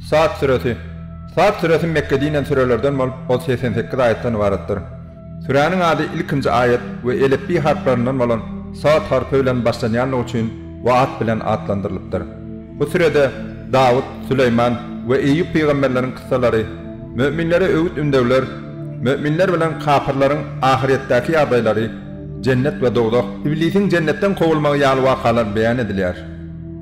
Sad süresi. Sad süresi Mekgede inen sürelerden bolup, ol segsen sekiz aýatdan ybaratdyr. Süräniň ady ilkinji aýat we elipbiý harplaryndan bolan Sad harpy bilen başlanýandygy üçin bu at bilen atlandyrylypdyr. Bu sürede Dawut, Süleýman we Eýýup pygamberleriň kyssalary, müminlere öwüt-ündewler, müminler bilen kapyrlaryň ahyrýetdäki ýagdaýlary, Jennet we dowzah, Iblisiň jennetden kowulmagy ýaly wakalar beýan edilýär.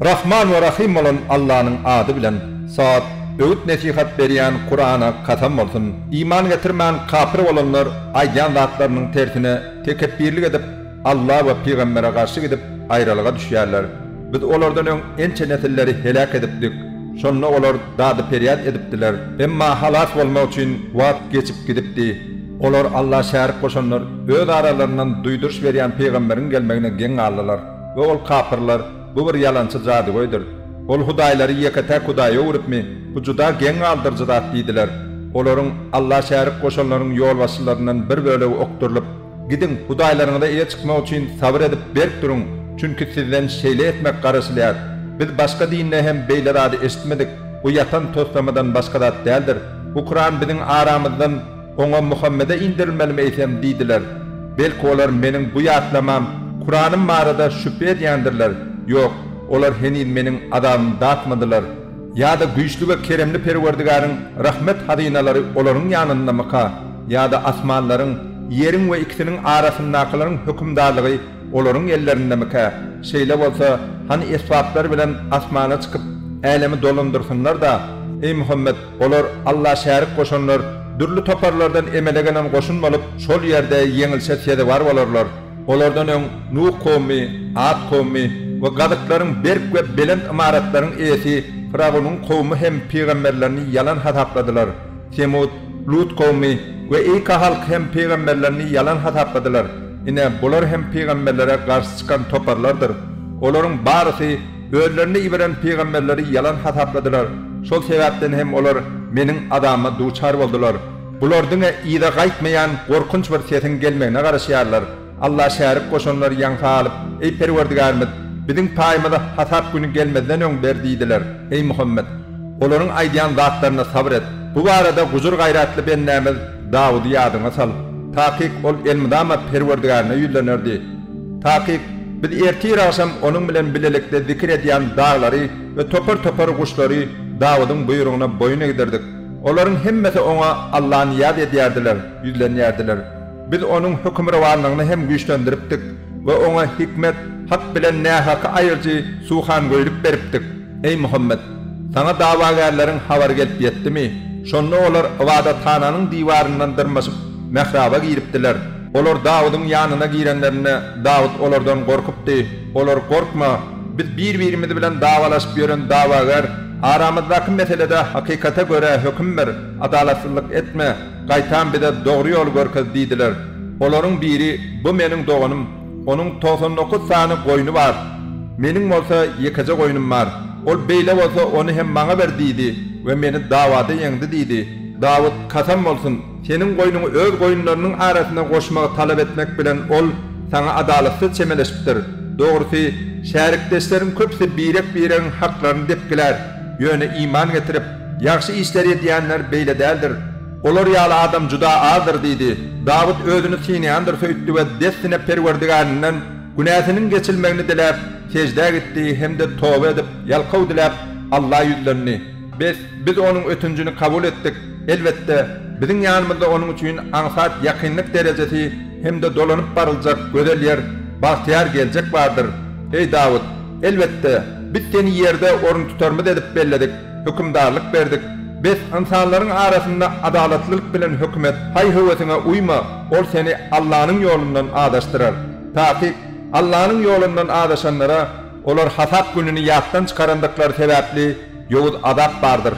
Rahman we Rahym bolan Allanyň ady bilen, Sad, Öwüt-nesihat berýän Kurana kasam bolsun! Iman getirmän kapyr bolanlar aýdýan zatlarynyň tersine tekepbirlik edip, Alla we pygambere garşy gidip, aýralyga düşýärler. Biz olardan öň ençe nesilleri heläk edipdik. Şonda olar dady-perýat edipdiler. Emma halas bolmak üçin wagt geçip gidipdi. Olar Alla şärik goşanlar öz aralaryndan duýduryş berýän pygamberiň gelmegine geň galdylar we ol kapyrlar, Bu bir ýalançy jadygöýdir. Ol hudaýlary ýeke-täk hudaýa öwrüpmi? Bu juda geň galdyryjy zat diýdiler. Olaryň, Alla şärik goşanlaryň ýolbaşçylaryndan bir bölegi okdurylyp, Gidiň, hudaýlaryňyza eýe çykmak üçin sabyr edip berk duruň, çünki sizden şeýle etmek garaşylýar. Biz başga dinde hem beýle zady eşitmedik, bu ýatan toslamadan başga zat däldir. Bu Kuran biziň aramyzdan, Oňa Muhammede indirilmelimi eýsem diýdiler. Belki olar meniň bu ýatlamam, Kuranym barada şübhe edýändirler, ýok, olar heniz meniň azabymy datmadylar. Ýa-da güýçli we keremli Perwerdigäriň rahmet hazynalary olaryň ýanyndamyka? Ýa-da asmanlaryň, ýeriň we ikisiniň arasyndakylaryň hökümdarlygy olaryň ellerindemikä? Şeýle bolsa, hany esbaplary bilen asmana çykyp, älemi dolandyrsynlar-da! Eý Muhammet! Olar Alla şärik goşanlar, dürli toparlardan emele gelen goşun bolup, şol ýerde ýeňilişe sezewar bolarlar. Olardan öň Nuh kowmy, At kowmy we gazyklaryň berk we belent ymaratlaryň eýesi Fyragonyň kowmy hem pygamberlerini ýalan hasapladylar. Semut, Lut kowmy we Eýka halky hem pygamberlerini ýalan hasapladylar. Ine, bular hem pygamberlere garşy çykan toparlardyr. Olaryň barysy. Özlerine iberen pygamberleri ýalan hasapladylar, şol sebäpden hem olar Meniň azabma duçar boldular. Bular diňe yza gaýtmaýan gorkunç bir sesiň gelmegine garaşýarlar. Alla şärik goşanlary ýaňsa alyp, Eý Perwerdigärimiz, biziň paýymyzy hasap güni gelmezden öň ber diýdiler. Eý Muhammet! Olaryň aýdýan zatlaryna sabyr et. Bu barada gujur-gaýratly bendämiz. Dawudy ýadyňa sal. Takyk ol elmydama Perwerdigärine ýüzlenerdi. Takyk, biz ertir-agşam onuň bilen bilelikde zikir edýän daglary we topar-topar guşlary Dawudyň buýrugyna boýun egdirdik. Olaryň hemmesi oňa Alla nyýaz edýärdiler, ýüzlenýärdiler. Biz onuň hökümrowanlygyny hem güýçlendiripdik we oňa hikmet, hak bilen nähaky aýryjy suhangöýlik beripdik. Eý Muhammet! Saňa dawagärleriň habary gelip ýetdimi? Şonda olar ybadathananyň diwaryndan dyrmaşyp, mähraba giripdiler. Olar Dawudyň ýanyna girenlerinde, Dawut olardan gorkupdy. Olar, Gorkma! Biz bir-birimiz bilen dawalaşyp ýören dawagär. Aramyzdaky meselede hakykata görä höküm ber, adalatsyzlyk etme, gaýtam bize dogry ýoly görkez diýdiler. Olaryň biri, Bu meniň doganym. Onuň togsan dokuz sany goýny bar. Meniň bolsa ýekeje goýnum bar. Ol beýle bolsa, ony hem maňa ber diýdi we meni dawada ýeňdi diýdi. Dawut, Kasam bolsun, seniň goýnuňy öz goýunlarynyň arasyna goşmagy talap etmek bilen ol saňa adalatsyz çemeleşipdir. Dogrusy, şärikdeşleriň köpüsi birek-biregiň haklaryny depgilär, ýöne iman getirip, ýagşy işleri edýänler beýle däldir. Olar ýaly adam juda azdyr diýdi. Dawut özüni synýandyr söýtdi we dessine Perwerdigärinden günäsiniň geçilmegini diläp, seždä gitdi hem-de toba edip, ýalkaw diläp, Alla ýüzlendi. Bes, biz onuň ötünjini kabul etdik. Elbetde, biziň ýanymyzda onuň üçin aňsat ýakynlyk derejesi hem-de dolanyp baryljak gözel ýer, bagtyýar geljek bardyr. Eý, Dawut! Elbetde, biz seni ýerde oruntutarymyz edip belledik. Hökümdarlyk berdik. Bes, ynsanlaryň arasynda adalatlylyk bilen höküm et. Haý-höwesiňe uýma, ol seni Allanyň ýolundan azaşdyrar. Takyk, Allanyň ýolundan azaşanlara, olar hasap gününi ýatdan çykarandyklary sebäpli, ýowuz azap bardyr.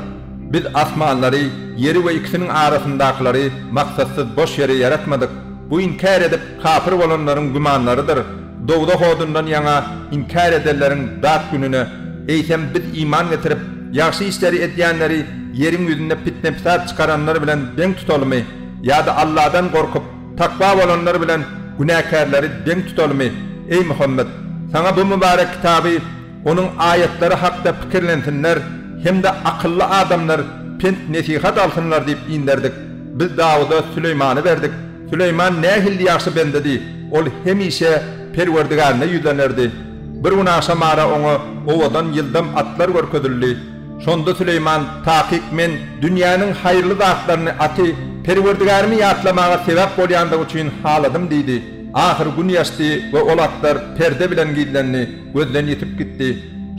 Biz asmanlary, ýeri we ikisiniň arasyndakylary maksatsyz boş ýere ýaratmadyk. Bu inkär edip, kapyr bolanlaryň gümanlarydyr. Dowzah odundan ýaňa inkär edenleriň dat gününe, eýsem, biz iman getirip, ýagşy işleri edýänleri ýeriň ýüzünde pitne-pisat çykaranlar bilen deň tutalymy? Ýa-da Alladan gorkup, takwa bolanlar bilen günäkärleri deň tutalymy? Eý, Muhammet! Saňa bu mübarek kitaby, Onuň aýatlary hakda pikirlensinler hem-de akylly adamlar pent-nesihat alsynlar diýip inderdik. Biz Dawuda Süleýmany berdik. Süleýman nähilli ýagşy bendedi! Ol hemişe Perwerdigärine ýüzlenerdi. Bir gün agşam ara oňa owadan ýyldam atlar görkezildi. Şonda Süleýman, Takyk men dünýäniň haýyrly zatlaryny aty Perwerdigärimi ýatlamaga sebäp bolýandygy üçin haladym diýdi. Ahyry gün ýaşdy we ol atlar perde bilen gizlendi. gözden ýitip gitdi.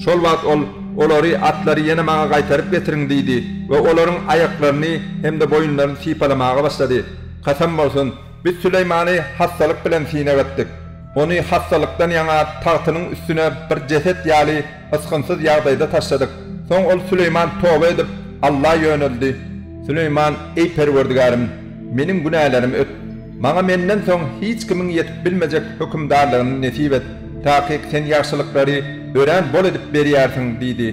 Şol wagt ol, Olary, atlary ýene maňa gaýtaryp getiriň diýdi we olaryň aýaklaryny hem-de boýunlaryny sypalamaga başlady. Kasam bolsun, biz Süleýmany hassalyk bilen synag etdik. Ony hassalykdan ýaňa tagtynyň üstüne bir jeset ýaly ysgynsyz ýagdaýda taşladyk. Soň ol Süleýman toba edip, Alla ýöneldi. Süleýman, Eý Perwerdigärim! Meniň günälerimi öt. Maňa menden soň hiç kimiň ýetip bilmejek hökümdarlygyny nesip et, takyk Sen ýagşylyklary örän bol edip berýärsiň diýdi.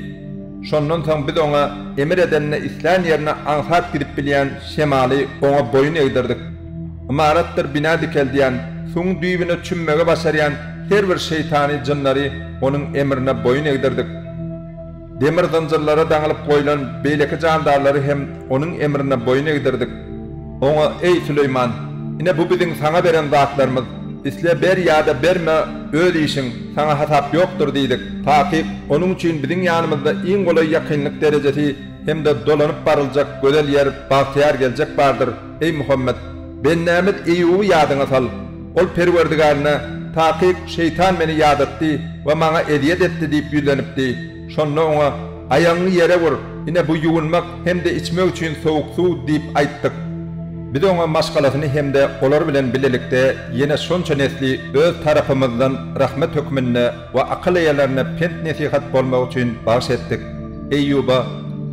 Şondan soň biz oňa emir edende islän ýerine aňsat gidip bilýän şemaly oňa boýun egdirdik. Ymaratdyr bina dikeldýän, suwuň düýbüne çümmegi başarýan her bir şeýtany jynlary onuň emrine boýun egdirdik. Demir zynjyrlara daňylyp goýlan beýleki jandarlary hem onuň emrine boýun egdirdik. Oňa, Eý, Süleýman, ine bu biziň saňa beren zatlarymyz, isle ber ýa-da berme, öz işiň, saňa hasap ýokdur diýdik. Takyk, onuň üçin biziň ýanymyzda iň golaý ýakynlyk derejesi hem-de dolanyp baryljak gözel ýer, bagtyýar geljek bardyr. Eý Muhammet! Bendämiz Eýýuby ýadyňa sal. Ol Perwerdigärine, Takyk, şeýtan meni ýadatdy we maňa ezýet etdi diýip ýüzlenipdi. Şonda oňa, Aýagyňy ýere ur, ine bu ýuwunmak hem-de içmek üçin sowuk suw diýip aýtdyk. Biz oňa maşgalasyny hem-de olar bilen bilelikde ýene şonça nesli öz tarapymyzdan rahmet hökmünde, we akyl eýelerine pent-nesihat bolmagy üçin bagyş etdik. Eýýuba,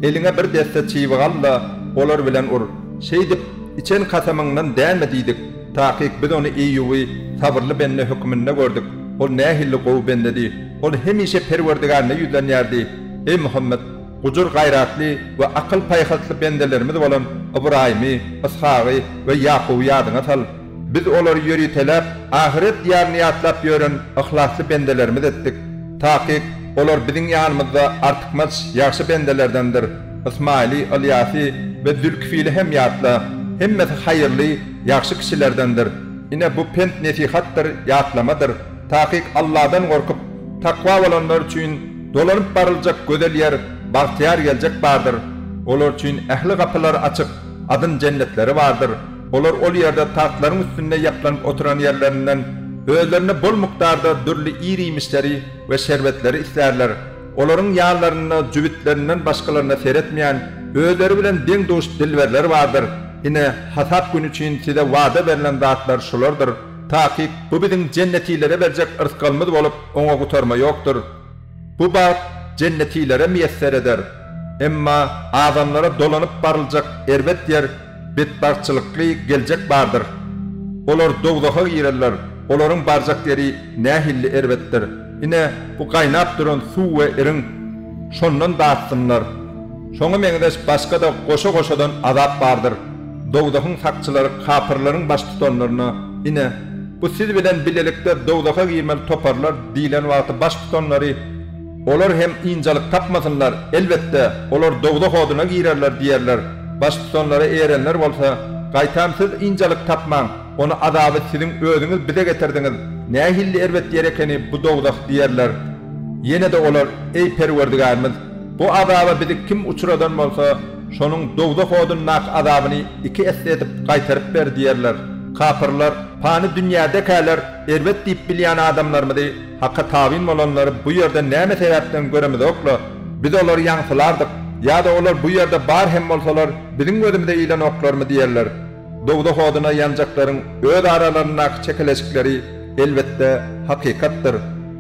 Eliňe bir desse çybyk al-da, olar bilen ur. Şeýdip, içen kasamyňdan dänme diýdik. Takyk biz ony Eýýuby sabyrly bende höküminde gördük. Ol nähili gowy bendedi! Ol hemişe Perwerdigärine ýüzlenýärdi. Eý Muhammet! Gujur-gaýratly we akyl-paýhasly bendelerimiz bolan Ybraýymy, Yshagy we Ýakuby ýadyňa sal. Biz olary ýöriteläp, ahyret diýaryny ýatlap ýören yhlasly bendelerimiz etdik. Takyk, olar biziň ýanymyzda artykmaç ýagşy bendelerdendir. Ysmaýyly, Ylýasy we Zülkifili hem ýatla. Hemmesi haýyrly, ýagşy kişilerdendir. Ine, bu pent-nesihatdyr, ýatlamadyr. Takyk Alladan gorkup, takwa bolanlar üçin dolanyp baryljak gözel ýer, bagtyýar geljek bardyr. Olar üçin ähli gapylar açyk, adyn jennetleri bardyr. Olar ol ýerde tagtlaryň üstünde ýaplanyp oturan ýerlerinden özlerine bol mukdarda dürli ir-iýmişleri we şerbetleri islärler, olaryň ýanlarynda jübütlerinden başgalaryna seretmeýän, özleri bilen deň-duş dilberler bardyr, ine, hasap güni üçin size wada berlen zatlar şulardyr, takyk, bu biziň jennetilere berjek yrsgalymyz bolup, oňa gutarma ýokdur. Bu bagt jennetilere miýesser eder. Emma adamlara dolanyp baryljak erbet ýer, betbagtçylykly geljek bardyr. Olar dowzaha girerler, olaryň barjak ýeri nähilli erbetdir! Ine, bu gaýnap duran suw we iriň, şondan datsynlar. Şoňa meňzeş başga-da goşa-goşadan azap bardyr. Dowzahyň sakçylary kapyrlaryň baştutanlaryna, Ine, bu siz bilen bilelikde dowzaha girmeli toparlar diýlen wagty baştutanlary, Olar hem ynjalyk tapmasynlar, elbetde, olar dowzah oduna girerler diýerler. Baştutanlara erenler bolsa, Gaýtam siz ynjalyk tapmaň, ony azaby siziň özüňiz bize getirdiňiz, nähilli erbet ýer ekeni bu dowzah diýerler. Ýene-de olar, Eý, Perwerdigärimiz! Bu azaba bizi kim uçradan bolsa, şonuň dowzah odundaky azabyny iki esse edip gaýtaryp ber diýerler. Kapyrlar, pany dünýädekäler erbet diýip bilýän adamlarymyzy Haka tabyn bolanlary bu ýerde näme sebäpden göremizok-la? Biz olary ýaňsylardyk, ýa-da olar bu ýerde bar hem bolsalar, biziň gözümize ilenoklarmy diýerler. Dowzah oduna ýanjaklaryň öz aralaryndaky çekeleşikleri, elbetde, hakykatdyr.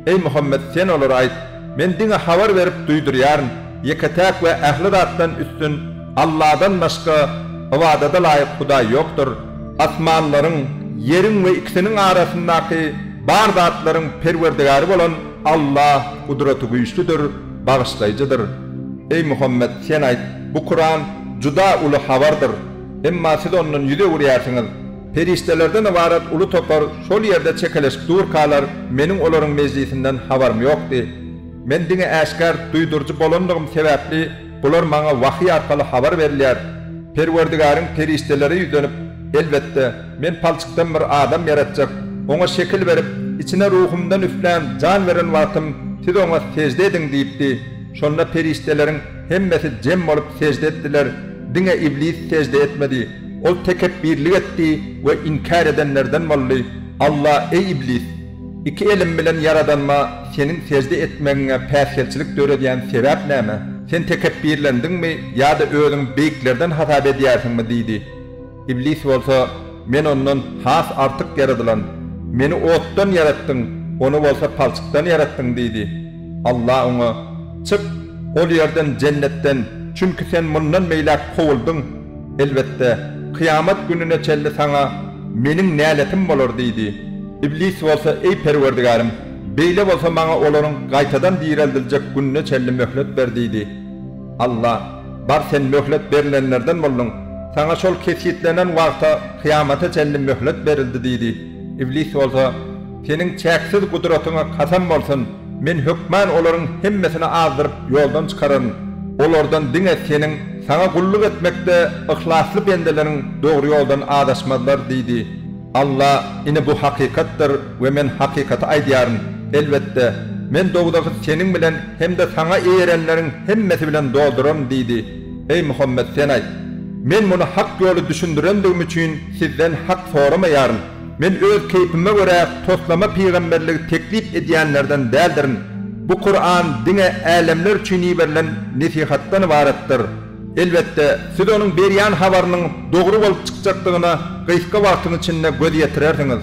Eý, Muhammet, sen olara aýt! Men diňe habar berip duýdurýaryn, ýeke-täk we ähli zatdan üstün Alladan başga ybadada laýyk Hudaý ýokdur. Asmanlaryň, ýeriň we ikisiniň arasyndaky bar zatlaryň Perwerdigäri bolan Alla Gudratygüýçlüdir, Bagyşlaýjydyr. Eý Muhammet, sen aýt, bu Kuran juda uly habardyr, emma siz ondan ýüz öwürýärsiňiz. Perişdelerden ybarat uly topar şol ýerde çekeleşip durkalar, meniň olaryň mejlisinden habarym ýokdy. Men diňe äşgär duýduryjy bolandygym sebäpli, bular maňa wahyý arkaly habar berilýär. Perwerdigäriň perişdelere ýüzlenip, Elbetde, Men palçykdan bir adam ýaratjak, oňa şekil berip, içine ruhumdan üflän, jan beren wagtym, siz oňa sežde ediň diýipdi. Şonda perişdeleriň hemmesi jem bolup sežde etdiler, diňe iblis sežde etmedi. Ol tekepbirlik etdi we inkär edenlerden boldy, Alla, eý Iblis! Iki elim bilen Ýaradanyma seniň sežde etmegiňe päsgelçilik döredýän sebäp näme? Sen tekepbirlendiňmi ýa-da özüňi beýiklerden hasap edýärsiňmi? diýdi. Iblis bolsa, Men ondan has artyk ýaradylan. Meni otdan ýaratdyň, ony bolsa palçykdan ýaratdyň diýdi. Allah oňa, Çyk, ol ýerden, jennetden, çünki sen mundan beýläk kowuldyň. Elbetde, kyýamat gününe çenli saňa Meniň näletim bolar diýdi. Iblis bolsa, Eý, Perwerdigärim! Beýle bolsa, maňa olaryň gaýtadan direldiljek gününe çenli möhlet ber diýdi. Allah, Bar, sen möhlet berlenlerden bolduň. Saňa şol kesgitlenen wagta, kyýamata çenli möhlet berildi diýdi. Iblis bolsa. Seniň çäksiz gudratyňa kasam bolsun, men hökman olaryň hemmesini azdyryp ýoldan çykararyn. Olardan diňe Seniň Saňa gulluk etmekde yhlasly bendeleriň dogry ýoldan azaşmazlar diýdi. Alla, Ine bu hakykatdyr we men hakykaty aýdýaryn. Elbetde, Men dowzahy seniň bilen hem-de saňa eýerenleriň hemmesi bilen dolduraryn diýdi. Eý Muhammet, sen aýt, Men muny hak ýoly düşündirendigim üçin sizden hak soramaýaryn. Men öz keýpime görä toslama pygamberligi teklip edýänlerden däldirin. Bu Kuran diňe älemler üçin iberilen nesihatdan ybaratdyr. Elbetde, siz onuň berýän habarynyň dogry bolup çykjakdygyna gysga wagtyň içinde göz ýetirersiňiz.